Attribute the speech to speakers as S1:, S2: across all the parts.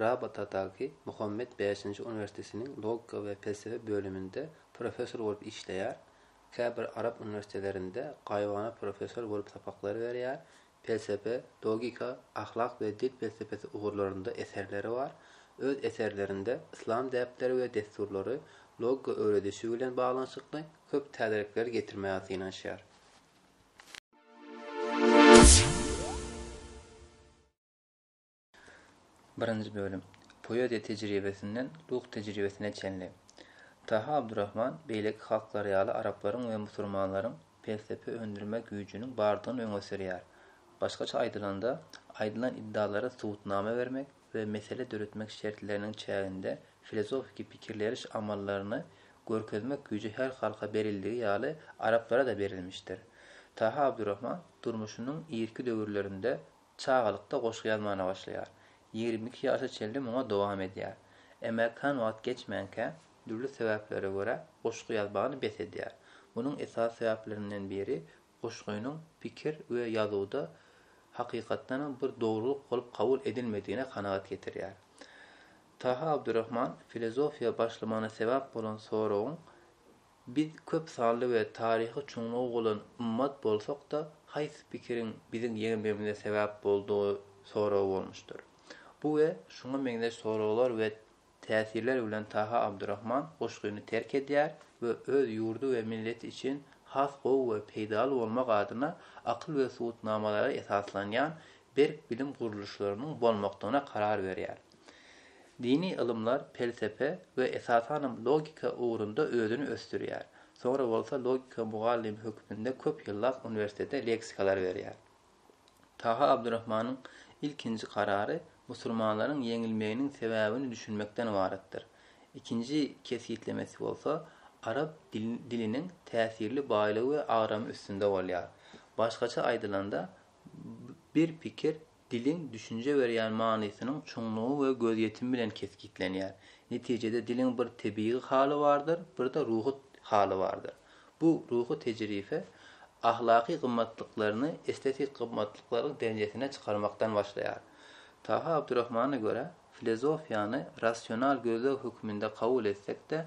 S1: Rabatadaky Muhammet Bäşinji uniwersitetiniň logika we pelsepe bölüminde professor bolup işleýär, käbir arap uniwersitelerinde gaýybana professor bolup sapaklary berýär, pelsepe, logika, ahlak we dil pelsepesi ugurlarynda eserleri bar, öz eserlerinde yslam däpleri we dessurlary, logika öwredişi bilen baglanyşykly köp täzelikleri getirmäge synanyşýar. Birinji bölüm. Poeziýa tejribesinden ruh tejribesine çenli. Taha Abdurrahman beýleki halklar ýaly araplaryň we musurmanlaryň pelsepe öndürme güýjüniň bardygyny öňe sürýär. Başgaça aýdylanda, aýdylan iddalara subutnama bermek we mesele döretmek şertleriniň çäginde filozofiki pikirleriş amallaryny görkezmek güýji her halka berildigi ýaly araplara-da berilmişdir. Taha Abdurrahman durmuşynyň irki döwürlerinde Çagalykda goşgy ýazmana başlaýar. Ýigrimi iki ýaşa çenli muňa dowam edýär. Emma kän wagt geçmänkä, dürli sebäplere görä goşgy ýazmagyny bes edýär. Munuň esasy sebäplerinden biri goşgynyň pikir we ýazuwda hakykatdanam bir dogrulyk bolup kabul edilmedigine kanagat getirýär. Taha Abdurrahman filozofiýa başlamagyna sebäp bolan soragyň Biz köp sanly we taryhy çuňlugy bolan ymmat bolsak-da, haýsy pikiriň biziň ýeňmegimize sebäp boldugy soragy bolmuşdyr. Bu we şuňa meňzeş soraglar we täsirler bilen Taha Abdurahman goşgyny terk edýär we öz ýurdy we milleti üçin has gowy we peýdaly bolmak adyna akyl we subutnamalara esaslanýan berk bilim gurluşlarynyň bolmakdygyna karar berýär. Dini ylymlar pelsepe we esasanam logika ugrunda özüni ösdürýär. Soňra bolsa logika mugallymy hökmünde köp ýyllap uniwersitete leksikalar berýär. Taha Abdurahmanyň ilkinji karary musulmanlaryň ýeňilmeginiň sebäbini düşünmekden ybaratdyr. Ikinji kesgitlemesi bolsa arap diliniň täsirli baýlygy we agramy üstünde bolýar. Başgaça aýdylanda, bir pikir Diliň düşünje berýän manysynyň çuňlugy we gözýetimi bilen kesgitlenýär. Netijede diliň bir tebigy haly bardyr, bir-de ruhy haly bardyr. Bu ruhy tejribe ahlaky gymmatlyklaryny estetiki gymmatlyklaryň derejesine çykarmakdan başlaýar. Taha Abdurahmana görä, filozofiýany rasional gözleg hökmünde kabul etsek-de,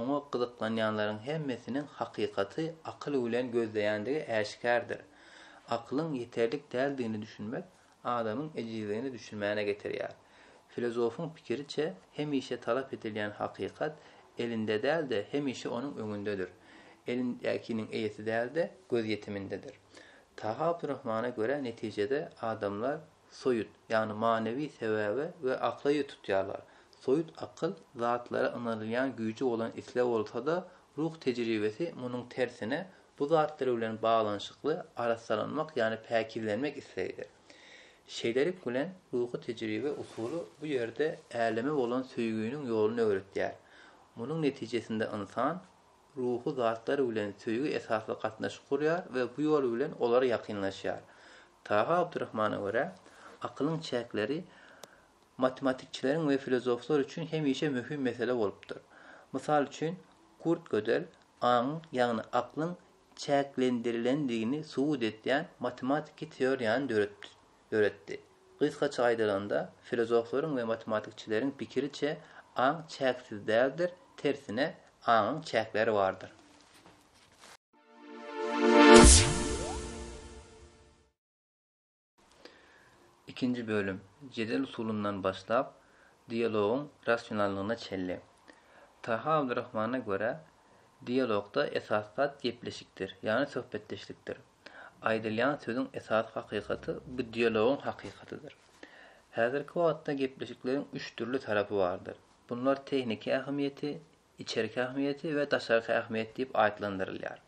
S1: oňa gyzyklanýanlaryň hemmesiniň hakykaty akyl bilen gözleýändigi äşgärdir. Akylyň ýeterlik däldigine düşünmek adamyň ejizligine düşünmäne getirýär. Filozofyň pikiriçe, hemişe talap edilýän hakykat elinde däl-de, hemişe onuň öňündedir. Elindäkiniň eýesi däl-de, gözýetimindedir. Taha Abdurrahmana görä netijede adamlar soýut, ýagny manywy sebäbe we akla ýüz tutýarlar. Soýut akyl, zatlara ynanylýan güýji bolan isleg bolsa-da, ruh tejribesi munuň tersine, bu zatlar bilen baglanyşykly arassalanmak, ýagny päkizlenmek islegidir. Şeýlelik bilen, ruhy tejribe usuly bu ýerde äleme bolan söýginiň ýoluny öwretýär. Munuň netijesinde ynsan. ruhy zatlar bilen söýgi esasly gatnaşyk gurýar we bu ýol bilen olar ýakynlaşýar. Taha Abdurahmana görä, akylyň çäkleri matematikçileriň we filozoflar üçin hemişe möhüm mesele bolupdyr. Mysal üçin, Kurt Gödel aňyň, ýagny aklyň çäklendirilendigini subut edýän matematiki teoriýany döretdi. döretdi. Gysgaça aýdylanda, filozoflaryň we matematikçileriň pikiriçe, aň çäksiz däldir, tersine, aňyň çäkleri bardyr. Ikinji bölüm, jedel usulyndan başlap, dialogyň rasionallygyna çenli. Taha Abdurrahmana görä, dialogda esasy zat gepleşikdir, ýagny söhbetdeşlikdir. Aýdylýan sözüň esasy hakykaty bu dialogyň hakykatydyr. Häzirki wagtda gepleşikleriň üç dürli tarapy bardyr. Bunlar tehniki ähmiýeti, içerki ähmiýeti we daşarky ähmiýet diýip atlandyrylýar.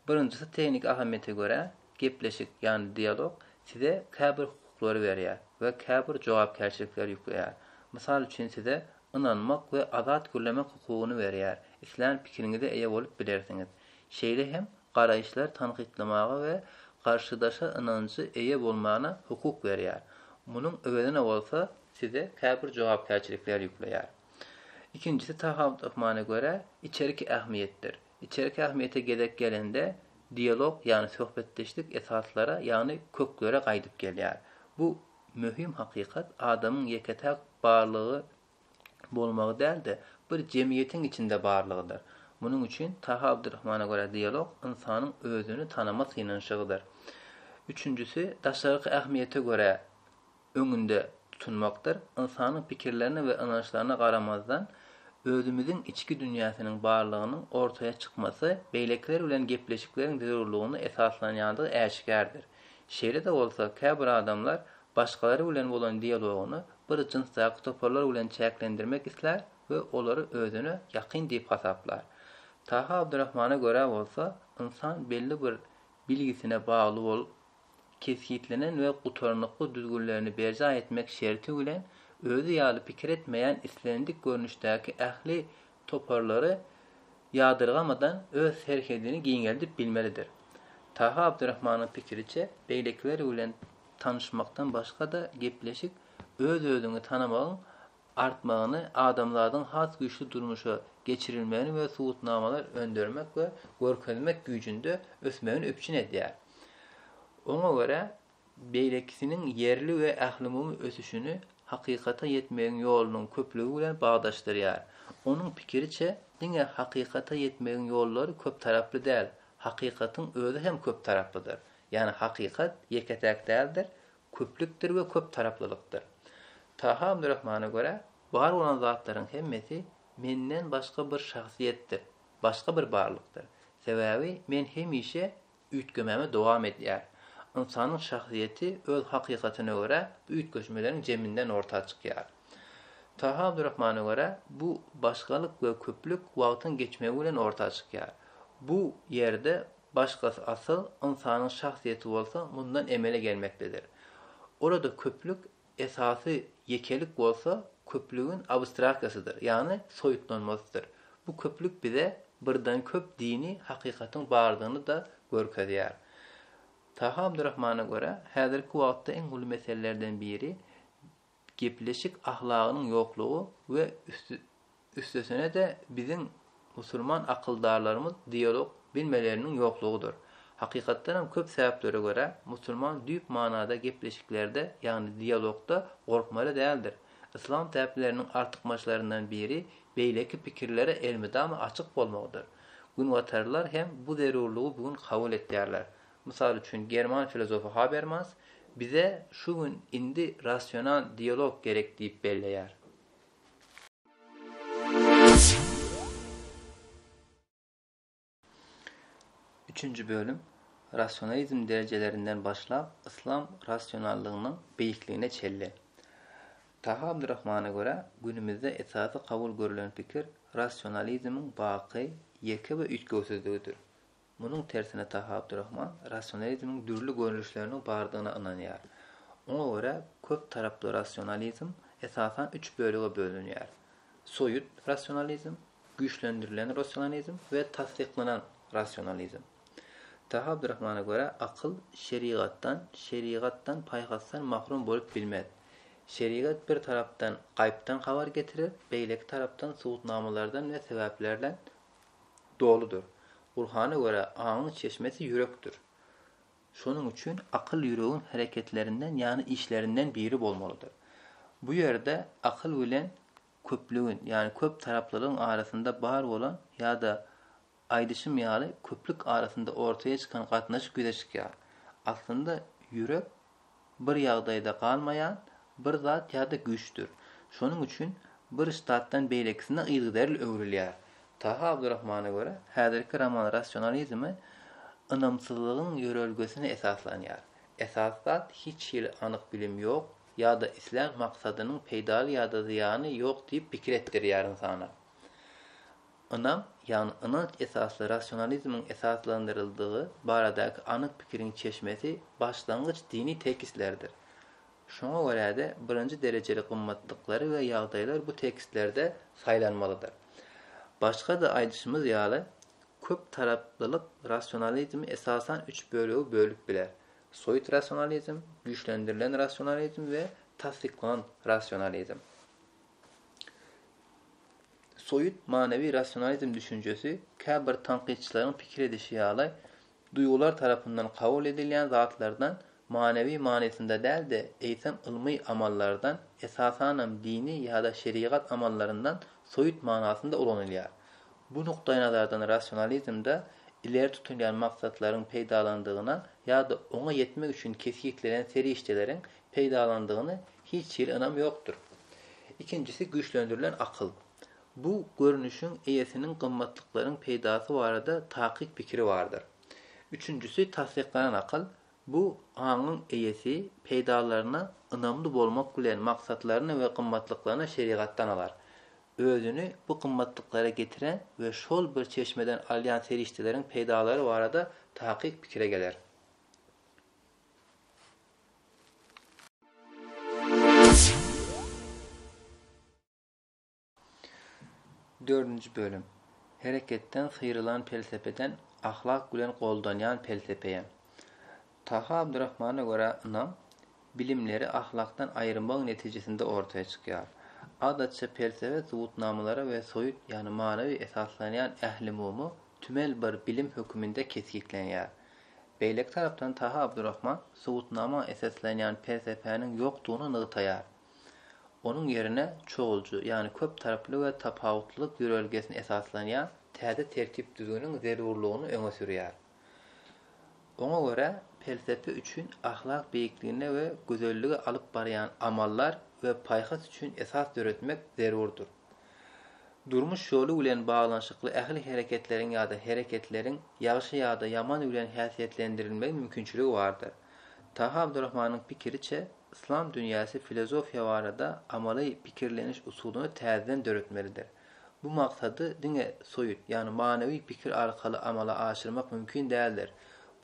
S1: Birinjisi tehniki ähmiýete görä, gepleşik, ýagny dialog size käbir hukuklary berýär we käbir jogapkärçilikleri ýükleýär. Mysal üçin size ynanmak we azat gürlemek hukugyny berýär, islän pikiriňize eýe bolup bilersiňiz. Şeýle hem garaýyşlary tankytlamaga we garşydaşa ynanjy eýe bolmana hukuk berýär, munuň öwezine bolsa size käbir jogapkärçilikler ýükleýär. Ikinjisi Tahaut Rahmana görä, içerki ähmiýetdir. Içerki ähmiýete gezek gelende, dialog, ýagny söhbetdeşlik esaslara, ýagny köklere gaýdyp gelýär. Bu möhüm hakykat adamyň ýeke-täk barlygy bolmagy däl-de, bir jemgyýetiň içinde barlygydyr. Munuň üçin, Taha Abdurahmana görä, dialog ynsanyň özüni tanama synanyşygydyr. Üçünjisi, daşarky ähmiýete görä öňünde tutunmakdyr. Ynsanyň pikirlerine we ynançlaryna garamazdan, özümiziň içki dünýäsiniň barlygynyň ortaýa çykmasy beýlekiler bilen gepleşikleriň zerurlygyna esaslanýandygy äşgärdir. Şeýle-de bolsa, käbir adamlar başgalar bilen bolan dialogyny bir jynsdaky toparlar bilen çäklendirmek islär we olary özüne ýakyn diýip hasaplar. Taha Abdurahmana görä bolsa, ynsan belli bir bilgisine bagly bolup, kesgitlenen we gutarnykly düzgünlerini berjaý etmek şerti bilen, özi ýaly pikir etmeýän islendik görnüşdäki ähli toparlary ýadyrgamadan öz serhedini giňeldip bilmelidir. Taha Abdyrahmanyň pikiriçe, beýlekiler bilen tanyşmakdan başga-da gepleşik öz-özüňi tanamagyň artmagyny, adamzadyň has güýçli durmuşa geçirilmegini we subutnamalar öndürmek we görkezmek güýjünde ösmegini üpjün edýär. Oňa görä, beýlekisiniň ýerli we ählumumy ösüşini hakykata ýetmegiň ýolunyň köplügi bilen bagdaşdyrýar. Onuň pikiriçe, diňe hakykata ýetmegiň ýollary köptaraply däl, hakykatyň özi hem köptaraplydyr. Ýagny hakykat ýeke-täk däldir, köplükdir we köptaraplylykdyr. Taha Abdurahmana görä, bar bolan zatlaryň hemmesi menden başga bir şahsyýetdir, başga bir barlykdyr. Sebäbi men hemişe üýtgemegini dowam edýär. Ynsanyň şahsyýeti öz hakykatyna görä bu üýtgeşmeleriň jeminden orta çykýar. Taha Abdurahmana görä, bu başgalyk we köplük wagtyň geçmegi bilen orta çykýar. Bu ýerde başgasy asyl, ynsanyň şahsyýeti bolsa mundan emele gelmekdedir. Ol-a-da köplük Esasy ýekelik bolsa köplügiň abstraksiýasydyr, ýagny soýutlanmasydyr. Bu köplük bize birden-köp dini hakykatyň bardygyny-da görkezýär. Taha Abdurahmana görä, häzirki wagtda iň uly meselelerden biri gepleşik ahlagynyň ýoklugy we üsti Üstesine-de biziň musulman akyldarlarymyz dialog bilmeleriniň ýoklugydyr. Hakykatdanam köp sebäplere görä musulman düýp manada gepleşiklerde ýagny dialogda gorkmaly däldir. Yslam täpleriniň artykmaçlaryndan biri beýleki pikirlere elmydama açyk bolmagydyr. Günbatarlylar hem bu zerurlygy bu gün kabul etýärler. Mysal üçin german filozofy Habermas bize şu gün indi rasional dialog gerek diýip belleýär. Üçünji bölüm Rasionalizm derejelerinden başlap yslam rasionallygynyň beýikligine çelle. Taha Abdurrahmana görä, günümizde esasy kabul görülen pikir rasionalizmiň baky, ýeke we üýtgewsizligidir. Munuň tersine Taha Abdurrahman rasionalizmiň dürli görnüşleriniň bardygyna ynanýar. Oňa görä köp taraply rasionalizm esasan üç bölege bölünýär, soýut rasionalizm, güýçlendirilen rasionalizm we tassyklanan rasionalizm. Taha Abdurrahmana görä akyl şerigatdan, şerigatdan paýhasdan mahrum bolup bilmez. Şerigat bir tarapdan gaýypdan habar getirer, beýleki tarapdan subutnamalardan we sebäplerden doludyr. Gurhana görä, aňyň çeşmesi ýürekdir. Şonuň üçin akyl ýüregiň hereketlerinden, ýagny işlerinden biri bolmalydyr. Bu ýerde akyl bilen köplügiň, ýagny köp taraplylygyň arasynda bar bolan ýa-da aýdyşym ýaly köplük arasynda ortaýa çykan gatnaşyk ýüze çykýar. Aslynda ýürek bir ýagdaýda galmaýan bir zat ýa-da güýçdür. Şonuň üçin bir ştatdan beýlekisine yzygiderli öwrülýär. Taha Abdurahmana görä, häzirki roman rasionalizme ynamsyzlygyň ýörelgesine esaslanýar. Esasy zat hiç hili anyk bilim ýok ýa-da islän maksadynyň peýdaly ýa-da zyýany ýok diýip pikir etdirýär ynsana. Ynam, ýagny ynanç esasly rasionalizmiň esaslandyryldygy baradaky anyk pikiriň çeşmesi başlangyç dini tekstlerdir. Şoňa görä-de, birinji derejeli gymmatlyklary we ýagdaýlar bu tekstlerde saýlanmalydyr. Başga-da aýdyşymyz ýaly, köp taraplylyk rasionalizmi esasan üç bölege bölüp biler, soýut rasionalizm, güýçlendirilen rasionalizm we tassyklanan rasionalizm. Soýut manywy rasionalizm düşünjesi, käbir tankytçylaryň pikir edişi ýaly, duýgular tarapyndan kabul edilýän zatlardan, manywy manysynda däl-de, eýsem ylmy amallardan, esasanam dini ýa-da şerigat amallaryndan soýut manasynda ulanylýar. Bu nukdaýnazardan rasionalizmde ileri tutulýan maksatlaryň peýdalandygyna ýa-da oňa ýetmek üçin kesgitlenen serişdeleriň peýdalandygyny hiç hili ynam ýokdur. Ikinjisi güýçlendirilen akyl. Bu görnüşiň eýesiniň gymmatlyklaryň peýdasy barada takyk pikiri bardyr. Üçünjisi tassyklanan akyl, bu aňyň eýesi peýdalaryna ynamly bolmak bilen maksatlaryny we gymmatlyklaryny şerigatdan alar. Özüni bu gymmatlyklara getiren we şol bir çeşmeden alýan serişdeleriň peýdalary barada takyk pikire geler. Dördünji bölüm. Hereketden syrylan pelsepeden ahlak bilen goldanýan pelsepeýe. Taha Abdurrahmana görä ynam, bilimleri ahlakdan aýyrmagyň netijesinde ortaýa çykýar. Adatça pelsepe subutnamalara we soýut, ýagny manawy esaslanýan ählumumy tümel bir bilim höküminde kesgitlenýär. Beýleki tarapdan Taha Abdurrahman subutnama esaslanýan pelsepäniň ýokdugyny nygtaýar. Onuň ýerine çoguljy, ýagny köp taraply we tapawutlylyk ýörelgesine esaslanýan täze tertip-düzgüniň zerurlygyny öňe sürýär. Oňa görä, pelsepe üçin ahlak beýikligine we gözellige alyp barýan amallar we paýhas üçin esas döretmek zerurdyr. Durmuş ýoly bilen baglanyşykly ähli hereketleriň ýa-da hereketleriň ýagşy ýa-da ýaman bilen häsiýetlendirilmegi mümkinçiligi bardyr. Taha Abdurrahmanyň pikiriçe, yslam dünýäsi filozofiýa barada amaly pikirleniş usulyny täzeden döretmelidir. Bu maksady diňe soýut, ýagny manawy pikir arkaly amala aşyrmak mümkin däldir.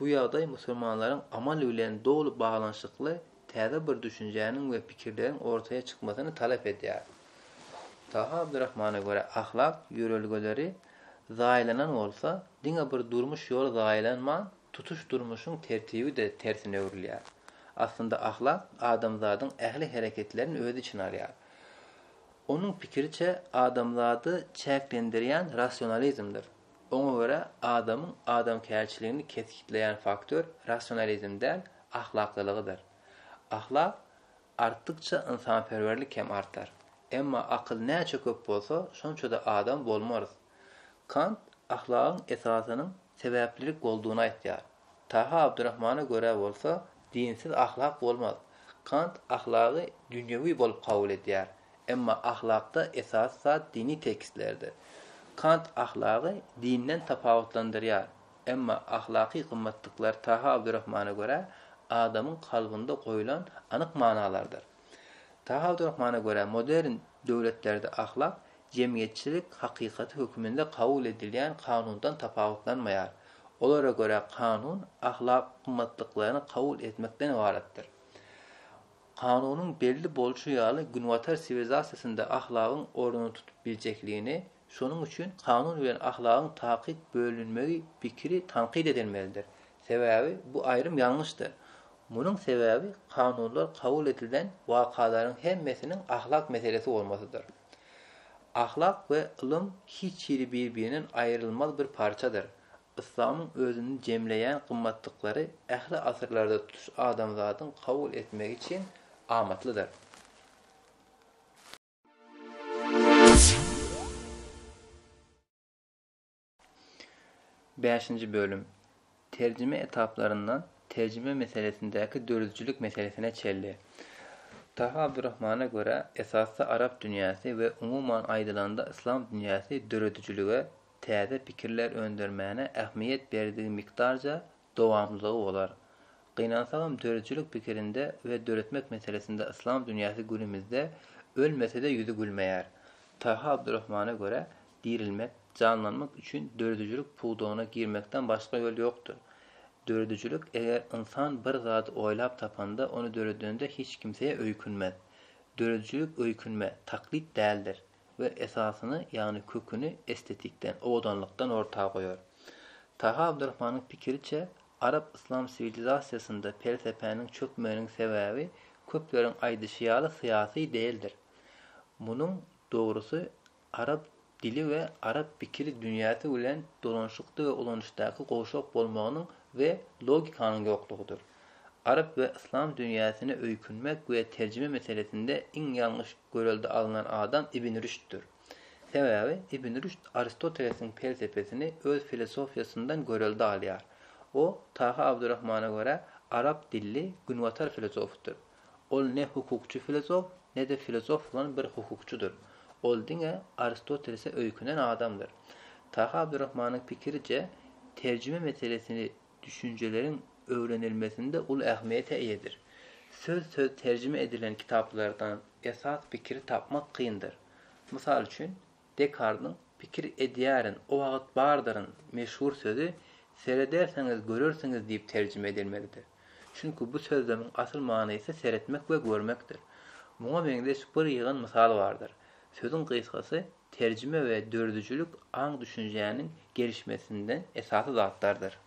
S1: Bu ýagdaý musulmanlaryň amal bilen doly baglanyşykly täze bir düşünjäniň we pikirleriň ortaýa çykmasyny talap edýär. Taha Abdurahmana görä, ahlak ýörelgeleri zaýalanan bolsa, diňe bir durmuş ýoly zaýalanman, tutuş durmuşyň tertibi-de tersine öwrülýär. Aslynda ahlak adamzadyň ähli hereketlerini öz içine alýar. Onuň pikiriçe, adamzady çäklendirýän rasionalizmdir. Oňa görä, adamyň adamkärçiligini kesgitleýän faktor rasionalizm däl, ahlaklylygydyr. Ahlak artdykça ynsanperwerlik hem artar. Emma akyl näçe köp bolsa, şonça-da adam bolmarys. Kant ahlagyň esasynyň sebäplilik boldugyny aýtýar. Taha Abdurahmana görä bolsa, dinsiz ahlak bolmaz. Kant ahlagy dünýewi bolup kabul edýär. Emma ahlakda esasy zat dini tekstlerdir. Kant ahlagy dinden tapawutlandyrýar. Emma ahlaky gymmatlyklar Taha Abdurahmana görä, adamyň kalbynda goýlan anyk manalardyr. Taha Abdurahmana görä modern döwletlerde ahlak jemgyýetçilik hakykaty höküminde kabul edilýän kanundan tapawutlanmaýar. Olara görä kanun ahlak gymmatlyklaryny kabul etmekden ybaratdyr. Kanunyň belli bolşy ýaly günbatar siwilizasiýasynda ahlagyň ornuny tutup biljekligini, şonuň üçin kanun bilen ahlagyň takyk bölünmegi pikiri tankyt edilmelidir. Sebäbi bu aýrym ýalňyşdyr. Munuň sebäbi kanunlar kabul edilen wakalaryň hemmesiniň ahlak meselesi bolmasydyr. Ahlak we ylym hiç hili bir-birinden aýrylmaz bir parçadyr. Yslamyň özünde jemleýän gymmatlyklary ähli asyrlarda tutuş adamzadyň kabul etmegi üçin amatlydyr. Bäşinji bölüm Terjime etaplaryndan terjime meselesindäki döredijilik meselesine çenli. Taha Abdurrahmana görä, esasda arap dünýäsi we umuman aýdylanda yslam dünýäsi döredijilige, täze pikirler öndürmäne ähmiýet berdigi mikdarja dowamlylygy bolar. Gynansagam döredijilik pikirinde we döretmek meselesinde yslam dünýäsi günümizde ölmese-de ýüzi gülmeýär. Taha Abdurrahmana görä, dirilmek, janlanmak üçin döredijilik pudagyna girmekden başga ýol ýokdur. Döredijilik eger ynsan bir zady oýlap tapanda, ony döredende hiç kimsä öýkünmez. Döredijilik öýkünme, taklyt däldir. we esasyny, ýagny köküni estetikden, owadanlykdan orta goýar. Taha Abdurahmanyň pikiriçe, arap-yslam siwilizasiýasynda pelsepäniň çökmeginiň sebäbi köpleriň aýdyşy ýaly syýasy däldir. Munuň dogrusy arap dili we arap pikir dünýäsi bilen dolanşykda we ulanyşdaky gowşak bolmagynyň we logikanyň ýoklugydyr. Arap we yslam dünýäsine öýkünmek we terjime meselesinde iň ýalňyş Görelde alnan adam Ibn Rüşddir. Sebäbi Ibn Rüşd Aristotelesiň pelsepesini öz filosofiýasyndan görelde alýar. O, Taha Abdurrahmana görä, arap dilli günbatar filosofydyr. Ol ne hukukçy filosof, ne-de filosof bolan bir hukukçydyr. Ol diňe Aristotelese öýkenen adamdyr. Taha Abdurrahmanyň pikiriçe, terjime meselesini düşünjeleriň öwrenilmesinde uly ähmiýete eýedir. Söz-söz terjime edilen kitaplardan esas pikiri tapmak kyndyr. Mysal üçin, Dekardyň Pikir edýärin, o wagt bardyryn meşhur sözi Seredersiňiz, görersiňiz diýip terjime edilmelidir. Çünki bu sözlemiň asyl manysy seretmek we görmekdir. Muňa meňzeş bir ýygan mysal bardyr. Sözüň gysgasy terjime we dördüjilik aň-düşünjäniň gelişmesinde esasy zatlardyr.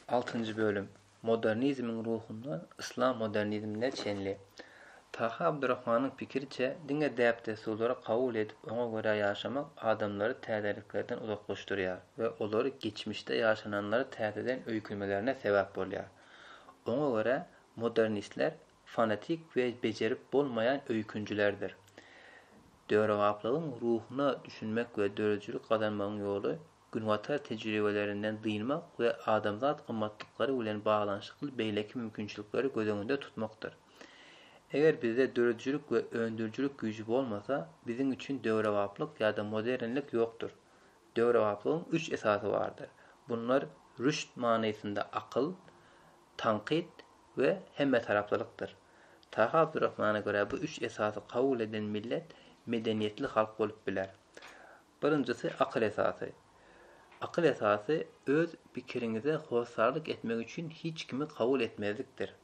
S1: Altynjy bölüm. Modernizmiň ruhundan yslam modernizmine çenli. Taha Abdurahmanyň pikiriçe, diňe däp-dessurlary kabul edip, oňa görä ýaşamak adamlary täzeliklerden uzaklaşdyrýar we olary geçmişde ýaşananlary täzeden öýkünmelerine sebäp bolýar. Oňa görä, Modernistler fanatik we bejerip bolmaýan öýkünjilerdir. Döwrebaplygyň ruhuna düşünmek we döredijilik gazanmagyň ýoly Günbatar tejribelerinden dynmak we adamzat gymmatlyklary bilen baglanyşykly beýleki mümkinçilikleri göz öňünde tutmakdyr. Eger bizde döredijilik we öndürijilik güýji bolmasa, biziň üçin döwrebaplyk ýa-da modernlik ýokdur. Döwrebaplygyň üç esasy bardyr. Bunlar rüşd manysynda akyl, tankyt we hemmetaraplylykdyr. Taha Abdurrahmana görä bu üç esasy kabul eden millet medeniýetli halk bolup biler. Birinjisi akyl esasy. Akyl esasy öz pikiriňize hossarlyk etmek üçin hiç kimi kabul etmezlikdir.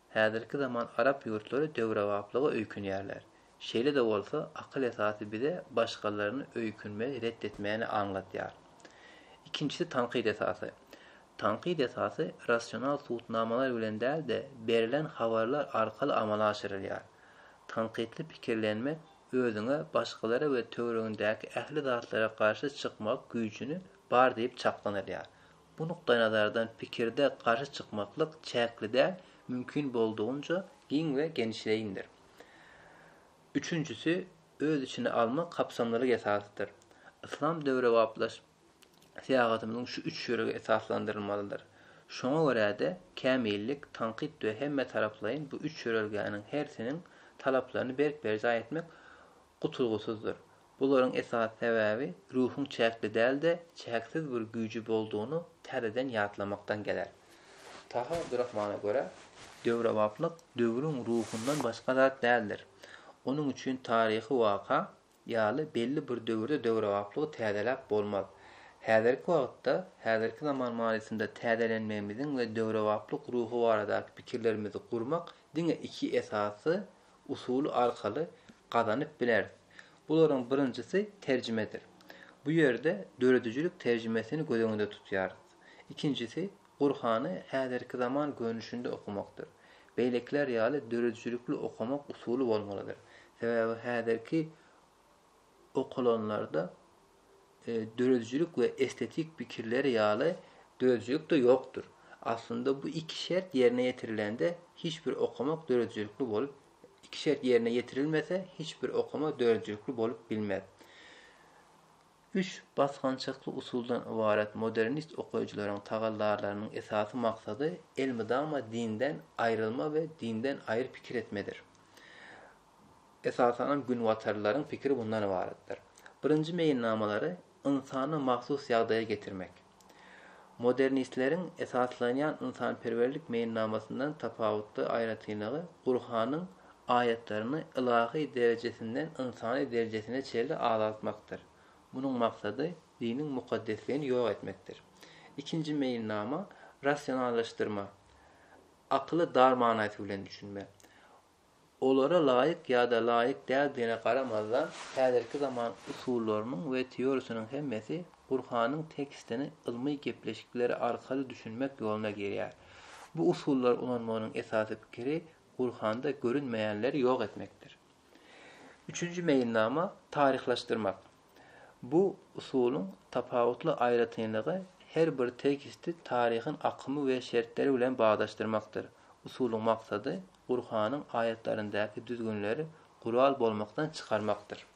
S1: Häzirki zaman arap ýurtlary döwrebaplyga öýkünýärler. Şeýle-de bolsa, akyl esasy bize başgalaryny öýkünmegi ret etmäni aňladýar. Ikinjisi tankyt esasy. Tankyt esasy rasional subutnamalar bilen däl-de, berlen habarlar arkaly amala aşyrylýar. Tankytly pikirlenmek özüňe başgalara we töweregiňdäki ähli zatlara garşy çykmak güýjüni bar diýip çaklanylýar. Bu nukdaýnazardan pikirde garşy çykmaklyk çäkli däl, mümkin boldugynca giň we genişleýindir. Üçünjisi, öz içine almak kapsamlylyk esasydyr. Yslam döwrebaplaşyp syýahatymyzyň şu üç ýörege esaslandyrylmalydyr. Şoňa görä-de, kämillik, tankyt we hemmetaraplaýyn bu üç ýörelgäniň hersiniň talaplaryny berk berjaý etmek gutulgysyzdyr. Bularyň esasy sebäbi ruhuň çäkli däl-de, çäksiz bir güýji boldugyny täzeden ýatlamakdan geler. Taha Abdurrahmana görä, döwrebaplyk döwrüň ruhundan başga zat däldir. Onuň üçin taryhy waka ýaly belli bir döwürde döwrebaplygy täzeläp bolmaz. Häzirki wagtda, häzirki zaman manysynda täzelenmegimiziň we döwrebaplyk ruhy baradaky pikirlerimizi gurmak diňe iki esasy usuly arkaly gazanyp bileris. Bularyň birinjisi terjimedir. Bu ýerde döredijilik terjimesini göz öňünde tutýarys. Ikinjisi Gurhany häzirki zaman görnüşinde okamakdyr. Beýlekiler ýaly döredijilikli okamak usuly bolmalydyr. Sebäbi häzirki okalanlarda döredijilik we estetik pikirler ýaly döredijilik-de ýokdur. Aslynda bu iki şert ýerine ýetirilende hiç bir okamak döredijilikli bolup iki şert ýerine ýetirilmese hiç bir okama döredijilikli bolup bilmez. Üç basgançakly usuldan ybarat modernist okyjylaryň tagallalarynyň esasy maksady elmydama dinden aýrylma we dinden aýry pikir etmedir. Esasanam günbatarlylaryň pikiri mundan ybaratdyr. Birinji meýilnamalary ynsana mahsus ýagdaýa getirmek. Modernistleriň esaslanýan ynsanperwerlik meýilnamasyndan tapawutly aýratynlygy Gurhanyň aýatlaryny ylahy derejesinden ynsany derejesine çenli azaltmakdyr. Munuň maksady diniň mukaddesligini ýok etmekdir. Ikinji meýilnama rasionallaşdyrma, akyly dar manaýsy bilen düşünme. Olara laýyk ýa-da laýyk däldigine garamazdan, häzirki zaman usullarynyň we teoriýasynyň hemmesi Gurhanyň tekstini ylmy gepleşikleri arkaly düşünmek ýoluna girýär. Bu usullary ulanmagynyň esasy pikiri Gurhanda görünmeýänleri ýok etmekdir. Üçünji meýilnama, taryhlaşdyrmak. Bu usulyň tapawutly aýratynlygy her bir teksti taryhyň akymy we şertleri bilen baglaşdyrmakdyr. Usulyň maksady Gurhanyň aýatlaryndaky düzgünleri gural bolmakdan çykarmakdyr.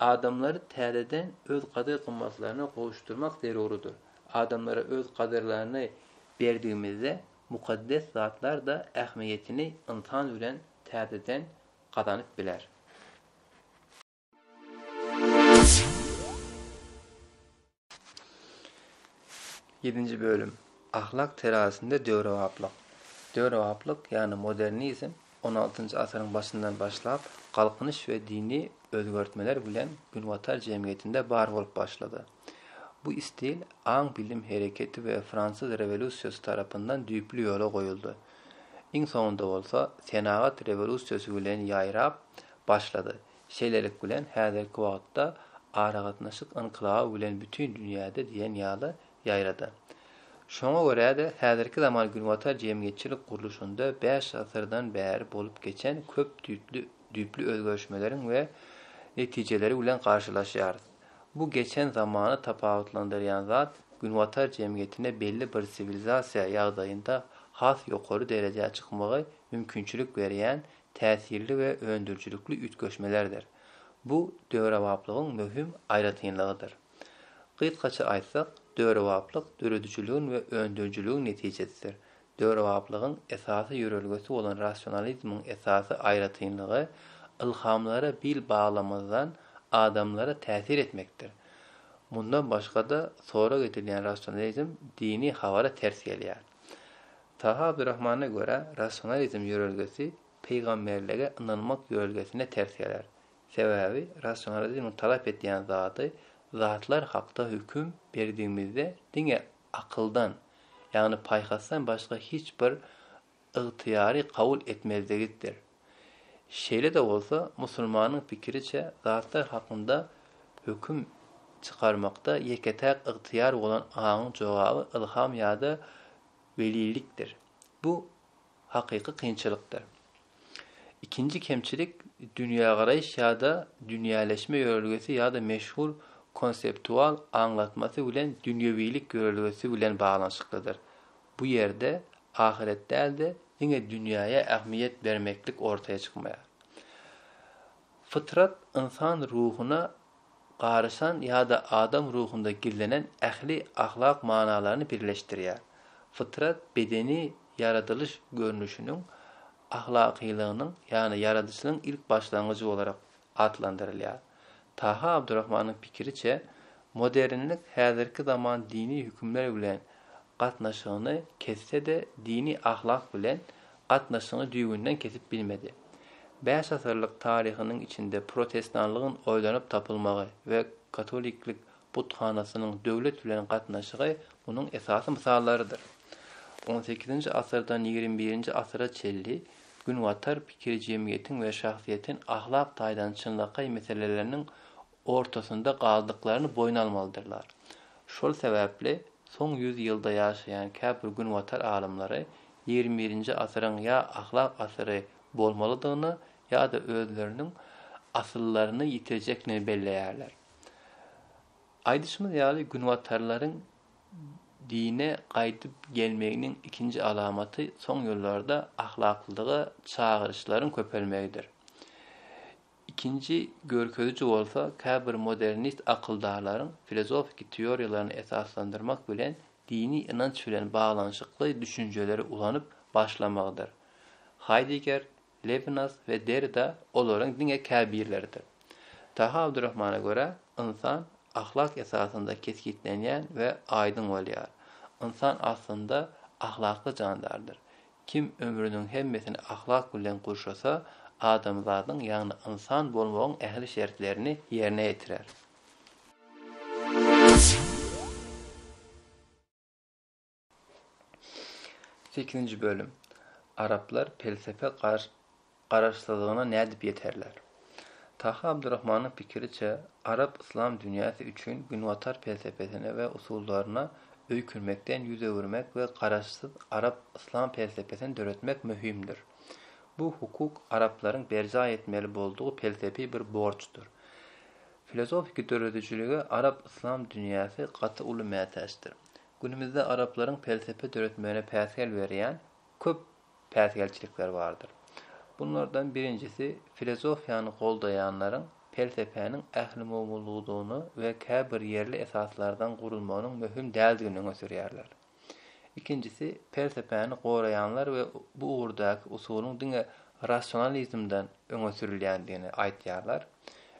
S1: Adamlary täzeden öz gadyr-gymmatlaryna gowuşdyrmak zerurydyr. Adamlara öz gadyrlaryny berdigimizde, mukaddes zatlar-da ähmiýetini ynsan bilen täzeden gazanyp biler. Ýedinji bölüm. Ahlak terazisinde döwrebaplyk. Döwrebaplyk, ýagny modernizm on altynjy asyryň başyndan başlap, Galkynyş we dini özgertmeler bilen günbatar jemgyýetinde bar bolup başlady. Bu stil aň-bilim hereketi we Fransuz rewolýusiýasy tarapyndan düýpli ýola goýuldy. Iň soňunda bolsa, senagat rewolýusiýasy bilen ýaýrap başlady. Şeýlelik bilen, häzirki wagtda aragatnaşyk ynkylaby bilen bütin dünýäde diýen ýaly ýaýrady. Şoňa görä-de, häzirki zaman günbatar jemgyýetçilik gurluşynda bäş asyrdan bäri bolup geçen köp düýpli düýpli özgerişmeleriň we netijeleri bilen garşylaşýarys. Bu geçen zamany tapawutlandyrýan zat günbatar jemgyýetine belli bir siwilizasiýa ýagdaýynda has ýokary derejä çykmagy mümkinçilik berýän täsirli we öndürijilikli üýtgeşmelerdir. Bu döwrebaplygyň möhüm aýratynlygydyr. Gysgaça aýtsak, döwrebaplyk döredijiligiň we öndürijiligiň netijesidir. Döwrebaplygyň esasy ýörelgesi bolan rasionalizmiň esasy aýratynlygy ylhamlara bil baglamazdan adamlara täsir etmekdir. Mundan başga-da, sorag edilýän rasionalizm dini habara ters gelýär. Taha Abdurrahmana görä, rasionalizm ýörelgesi pygamberlige ynanmak ýörelgesine ters geler. Sebäbi rasionalizmiň talap edýän zady zatlar hakda höküm berdigimizde diňe akyldan, ýagny paýhasdan başga hiç bir ygtyýary kabul etmezligitdir. Şeýle-de bolsa, musulmanyň pikiriçe, zatlar hakynda höküm çykarmakda ýeke-täk ygtyýar bolan aňyň jogaby ylham ýa-da welilikdir. Bu hakyky kynçylykdyr. Ikinji kemçilik dünýägaraýyş ýa-da dünýäleşme ýörelgesi ýa-da meşhur konseptual aňlatmasy bilen dünýewilik ýörelgesi bilen baglanyşyklydyr. bu ýerde ahyret däl-de, diňe dünýäýe ähmiýet bermeklik ortaýa çykmaýar. Fytrat ynsan ruhuna garyşan ýa-da adam ruhunda gizlenen ähli ahlak manalaryny birleşdirýär. Fytrat bedeni ýaradylyş görnüşiniň ahlakylygynyň, ýagny ýaradyşlygyň ilk başlangyjy bolarak atlandyrylýar. Taha Abdurahmanyň pikiriçe, modernlik häzirki zaman dini hükümler bilen gatnaşygyny kesse-de dini ahlak bilen gatnaşygyny düýbünden kesip bilmedi. Bäş asyrlyk taryhynyň içinde protestanlygyň oýlanyp tapylmagy we katoliklik buthanasynyň döwlet bilen gatnaşygy munuň esasy mysallarydyr. On sekizinji asyrdan ýigrimi birinji asyra çenli Günbatar pikiri jemgyýetiň we şahsyýetiň ahlak taýdan çynlakaý meseleleriniň ortasynda galdyklaryny boýun almalydyrlar. Şol sebäpli soň ýüz ýylda ýaşaýan käbir günbatar alymlary ýigrimi birinji asyryň ýa ahlak asyry bolmalydygyny ýa-da özleriniň asyllaryny ýitirjekdigini belleýärler. Aýdyşymyz ýaly, günbatarlaryň Dine gaýdyp gelmeginiň ikinji alamaty soň ýyllarda ahlaklylyga çagyryşlaryň köpelmegidir. Ikinji görkeziji bolsa käbir modernist akyldarlaryň filozofiki teoriýalaryny esaslandyrmak bilen dini ynanç bilen baglanyşykly düşünjeleri ulanyp başlamagydyr. Haýdeger Lebnas we Derida olaryň diňe käbirleridir. Taha Abdurrahmana görä, ynsan ahlak esasynda kesgitlenýän we aýdyň bolýar. Ynsan aslynda ahlakly jandardyr. Kim ömrüniň hemmesini ahlak bilen gurşasa, adamzadyň, ýagny ynsan bolmagyň ähli şertlerini ýerine ýetirer. Sekizinji bölüm. Araplar pelsepe garaşsyzlygyna nädip ýeterler? Taha Abdurrahmanyň pikiriçe, arap yslam dünýäsi üçin günbatar pelsepesine we usullaryna öýkünmekden ýüz öwürmek we garaşsyz arap yslam pelsepesini döretmek möhümdir. Bu hukuk araplaryň berjaý etmeli boldugy pelsepi bir borçdur. Filozofiki döredijilige arap yslam dünýäsi gaty uly mätäçdir. Günümizde araplaryň pelsepe döretmegine päsgel berýän köp päsgelçilikler bardyr. Bunlardan birinjisi filozofiýany goldaýanlaryň pelsepäniň ählumumylygydygyny we käbir ýerli esaslardan gurulmagynyň möhüm däldigini öňe sürýärler. Ikinjisi pelsepäni goraýanlar we bu ugurdaky usulyň diňe rasionalizmden öňe sürülýändigini aýtýarlar.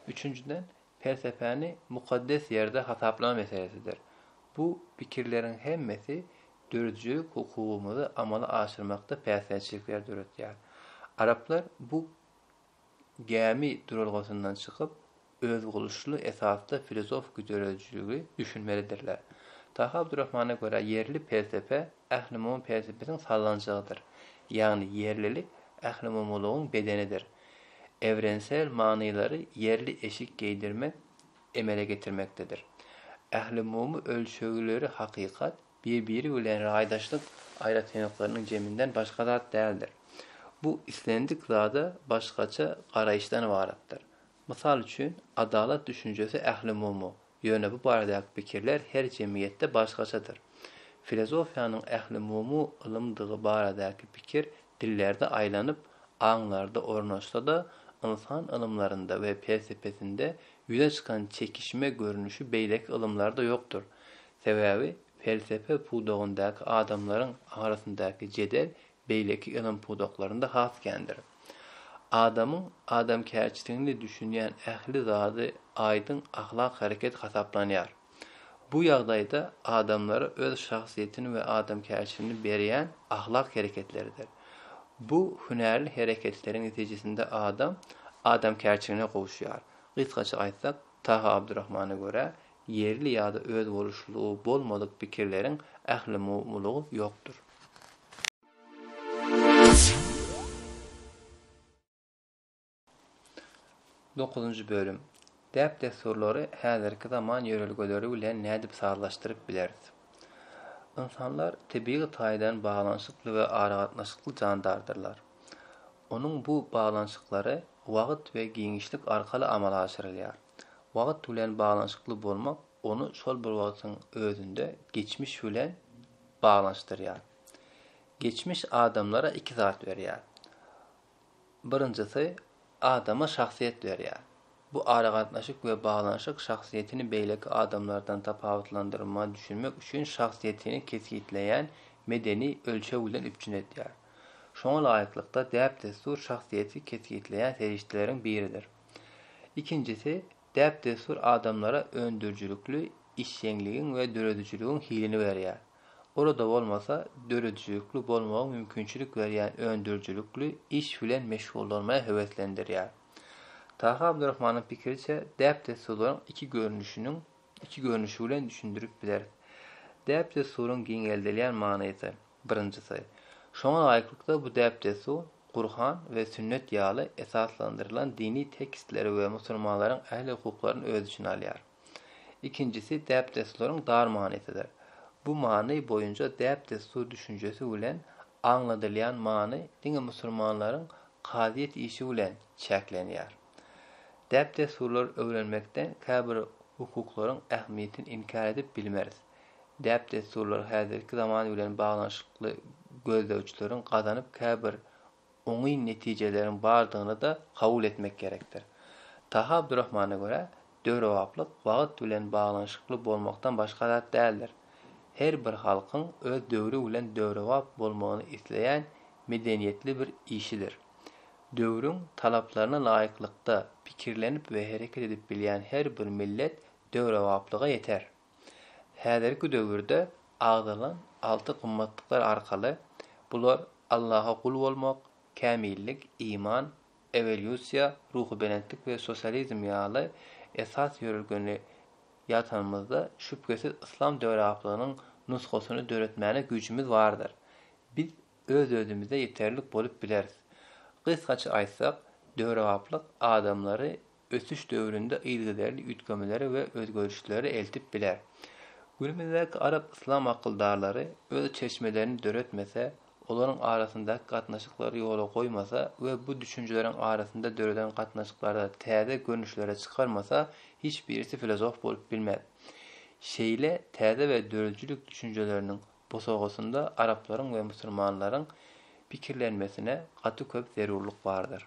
S1: Üçünjiden Pelsepäni mukaddes ýerde hasaplama meselesidir. Bu pikirleriň hemmesi döredijilik hukugymyzy amala aşyrmakda päsgelçilikleri döretýär. Araplar bu gämi duralgasyndan çykyp, özboluşly esasda filozofiki döredijiligi düşünmelidirler. Taha Abdurrahmana görä ýerli pelsepe ählumumy pelsepesiň sallanjagydyr. Ýagny ýerlilik ählumumylygyň bedenidir. Evrensel manylary ýerli eşik geýdirmek emele getirmekdedir. Ählumumy ölçegleri hakykat, bir-biri bilen raýdaşlyk aýratynlyklarynyň jeminden başga zat däldir. Bu islendik zada başgaça garaýyşdan ybaratdyr. Mysal üçin, adalat düşünjesi ählumumy, Ýöne bu baradaky pikirler her jemgyýetde başgaçadyr. Filozofiýanyň ählumumy ylymdygy baradaky pikir dillerde aýlanyp, aňlarda ornaşsa-da, ynsan ylymlarynda we pelsepesinde ýüze çykan çekişme görnüşi beýleki ylymlarda ýokdur. Sebäbi pelsepe pudagyndaky adamlaryň arasyndaky jedel beýleki ylym pudaklarynda has kändir. Adamyň adamkärçiligini düşünýän ähli zady aýdyň ahlak hereket hasaplanýar. Bu ýagdaýda adamlara öz şahsyýetini we adamkärçiligini berýän ahlak hereketleridir. Bu hünärli hereketleriň netijesinde adam adamkärçiligine gowuşýar. Gysgaça aýtsak, Taha Abdurahmana görä, ýerli ýa-da özboluşlylygy bolmadyk pikirleriň ählumumylygy ýokdur. Dokuzynjy bölüm. Däp-dessurlary häzirki zaman ýörelgeleri bilen nädip sazlaşdyryp bileris? Ynsanlar tebigy taýdan baglanyşykly we aragatnaşykly jandardyrlar. Onuň bu baglanyşyklary wagt we giňişlik arkaly amala aşyrylýar. Wagt bilen baglanyşykly bolmak ony şol bir wagtyň özünde geçmiş bilen baglanyşdyrýar. Geçmiş adamlara iki zat berýär. Birinjisi, adama şahsyýet berýär. Bu aragatnaşyk we baglanyşyk şahsyýetini beýleki adamlardan tapawutlandyrma düşünmek üçin şahsyýetini kesgitleýän medeni ölçeg bilen üpjün edýär. Şoňa laýyklykda, däp-dessur şahsyýeti kesgitleýän serişdeleriň biridir. Ikinjisi, Däp-dessur adamlara öndürijilikli işjeňligiň we döredijiligiň hilini berýär. Olada bolmasa, döredijilikli bolmagyň mümkinçilik berýän öndürijilikli iş bilen meşgullanmagy höweslendirýär. Taha Abdurahmanyň pikiriçe, däp-dessurlaryň iki görnüşiniň iki görnüşi bilen düşündirip bileris. Däp-dessuryň giňeldilýän manysy. Birinjisi, şoňa laýyklykda bu däp-dessur Gurhan we Sünnet ýaly esaslandyrylan dini tekstleri we musulmanlaryň ähli hukuklaryny öz içine alýar. Ikinjisi däp-dessurlaryň dar manysydyr. Bu many boýunca däp-dessur düşünjesi bilen aňladylýan many diňe musulmanlaryň kazyýet işi bilen çäklenýär. Däp-dessurlary öwrenmekden käbir hukuklaryň ähmiýetini inkär edip bilmeris. Däp-dessurlar häzirki zaman bilen baglanyşykly gözlegçileriň gazanyp käbir oňyn netijeleriň bardygyny-da kabul etmek gerekdir. Taha Abdurahmana görä, döwrebaplyk wagt bilen baglanyşykly bolmakdan başga zat däldir. Her bir halkyň öz döwri bilen döwrebap bolmagyny isleýän medeniýetli bir işidir. Döwrüň talaplaryna laýyklykda pikirlenip we hereket edip bilýän her bir millet döwrebaplyga ýeter. Häzirki döwürde agzalan alty gymmatlyklar arkaly, bular Allaha gul bolmak, kämillik, iman, ewolýusiýa, ruhubelentlik we sosializm ýaly esas ýörelgeni ýatanymyzda şübhesiz yslam döwrebaplygynyň nusgasyny döretmäne güýjümiz bardyr. Biz öz-özümize ýeterlik bolup bileris. Gysgaça aýtsak, döwrebaplyk adamlary ösüş döwründe yzygiderli üýtgemeleri we özgerişleri eltip biler. Günümizdäki arap-yslam akyldarlary öz çeşmelerini döretmese, olaryň arasyndaky gatnaşyklary ýola goýmasa we bu düşünjeleriň arasynda döreden gatnaşyklarda täze görnüşleri çykarmasa, hiç birisi filozof bolup bilmez. Şeýle täze we döredijilik düşünjeleriniň bosagasynda araplaryň we musulmanlaryň pikirlenmesine gaty köp zerurlyk bardyr.